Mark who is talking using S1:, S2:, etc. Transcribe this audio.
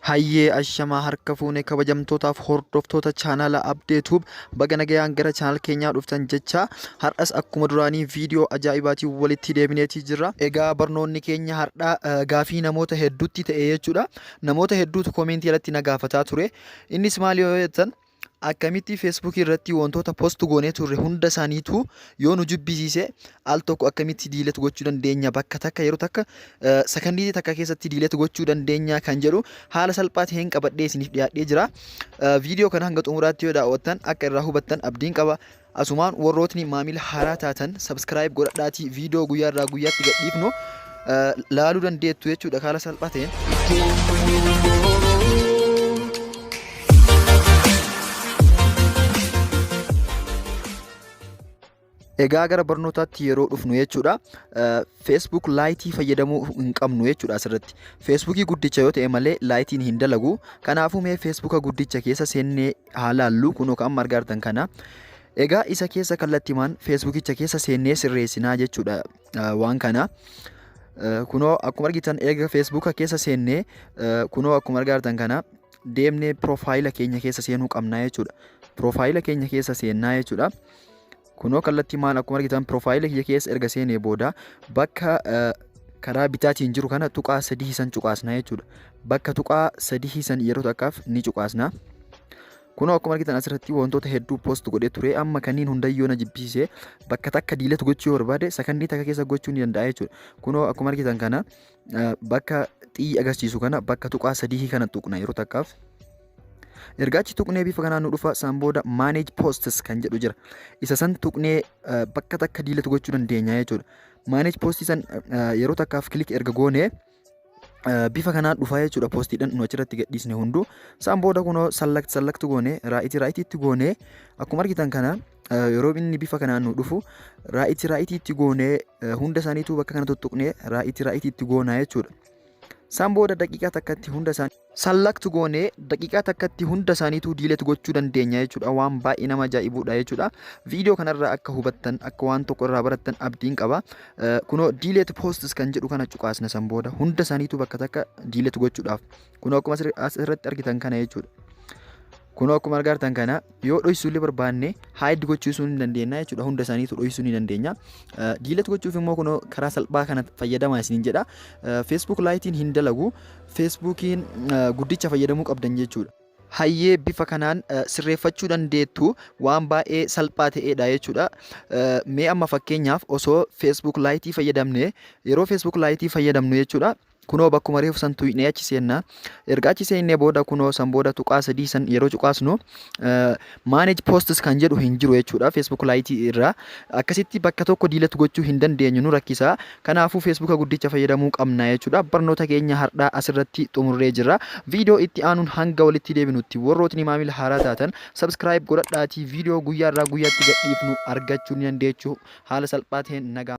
S1: Hayyee ashamaa harka fuune kabajamtootaaf hordoftoota chaanaala Abdeetuub baga nagayaan gara chaanaal keenyaa dhuftan jecha har'as akkuma duraanii viidiyoo ajaa'ibaatiin walitti deebineetii jirra. Egaa barnoonni keenya har'aa eh, gaafii namoota hedduutti ta'e jechuudha. Namoota hedduutu koomeentii irratti na gaafataa ture. Innis maali yoo jettan Akkamitti Facebook irratti wantoota post goonee turre hunda isaaniitu yoo nu jibbisiise al tokko akkamitti diilet gochuu dandeenya bakka takka yeroo takka eh, sakandiitii takka keessatti diilet gochuu dandeenya kan jedhu haala salphaa ta'een qabadhee isiniif dhiyaadhee jira. Eh, Viidiyoo kana hanga xumuraatti yoo daawwattan akka irraa hubattan abdiin qaba. Asumaan warrootni maamila haaraa taatan subscribe godhadhaatii viidiyoo guyyaa irraa guyyaatti gadhiifnu laaluu dandeettu jechuudha kaala salphaa ta'een. Egaa gara barnootaatti yeroo dhufnu jechuudha. Facebook laayitii fayyadamuu hin qabnu jechuudha asirratti. Facebookii guddicha yoo ta'e malee laayitiin hin dalagu. Kanaafuu mee Facebooka guddicha keessa seennee haa laallu kunoo ka amma argaartan kana egaa isa keessa kallattimaan feesbuukicha keessa seennee sirreessinaa jechuudha waan kana kunoo akkuma argitan eega feesbuuka keessa seennee kunoo akkuma argaartan kana deemnee piroofaayila keenya keessa seenuu qabnaa jechuudha piroofaayila keenya keessa seennaa jechuudha Kunoo kallattii maal akkuma argitan piroofaayila kiyya keessa erga seenee booda bakka karaa bitaatiin jiru kana tuqaa sadii san cuqaasna jechuudha. Bakka tuqaa sadii san yeroo takkaaf ni cuqaasna. Kunoo akkuma argitan asirratti wantoota hedduu post godhee ture amma kanneen hundayyoo na jibbisiise bakka takka diilet gochuu yoo barbaade sakandii takka keessa gochuu ni danda'a jechuudha. Kunoo akkuma argitan kana bakka xiyyi agarsiisu kana bakka tuqaa sadii kana tuqna yeroo takkaaf. Erga achi tuqnee bifa kanaan nu dhufa san booda manage posts kan jedhu jira. Isa san tuqnee eh, bakka takka diilatu gochuu dandeenya jechuudha. Manage posts san eh, yeroo takkaaf kilik erga goonee eh, bifa kanaan dhufaa jechuudha poostiidhaan nu achirratti gadhiisne hunduu. Isaan booda kunoo sallakti sallakti goone raa'itii raa'itiitti goone akkuma argitan kana eh, yeroo inni bifa kanaan nu dhufu raa'itii raa'itiitti goone eh, hunda isaaniitu bakka kana tuttuqne raa'itii raa'itiitti goona jechuudha. San booda daqiiqaa takkatti hunda isaanii select goonee daqiiqaa takkatti hunda isaaniituu delete gochuu dandeenya jechuudha. Waan baay'ee nama ajaa'ibuudha jechuudha. Viidiyoo kanarraa akka hubattan akka waan tokko irraa barattan abdiin qaba. Eh, Kunoo delete posts kan jedhu kana cuqaasna san booda hunda isaaniituu bakka takka delete gochuudhaaf. Kunoo akkuma asirra- asirratti argitan kana jechuudha. Kunoo akkuma argitan kana yoo dhoysuu illee barbaanne hide gochuusuu ni dandeenya jechuudha hunda isaaniitu dhoysuu ni dandeenya diilet gochuuf immoo kunoo karaa salphaa kana fayyadamaa isiniin jedha feesbuuk laayitiin hin dalagu feesbuukiin guddicha fayyadamuu qabdan jechuudha hayyee bifa kanaan sirreeffachuu dandeettu waan baay'ee salphaa ta'eedha jechuudha mee amma fakkeenyaaf osoo feesbuuk laayitii fayyadamne yeroo feesbuuk laayitii fayyadamnu jechuudha kunoo bakkuma reefu san tuyne achi seenna erga achi seennee booda kunoo san booda tuqaa sadii san yeroo cuqaasnu manage posts kan jedhu hin jiru jechuudha facebook laayitii irraa akkasitti bakka tokko diilet gochuu hin dandeenyu nu rakkisa kanaafuu facebook guddicha fayyadamuu qabna jechuudha barnoota keenya hardhaa asirratti xumurree jirra viidiyoo itti aanuun hanga walitti deebinutti warrootni maamila haaraa taatan subscribe godhadhaatii viidiyoo guyyaa irraa guyyaatti gadhiifnu argachuu ni dandeechu haala salphaa ta'een nagaa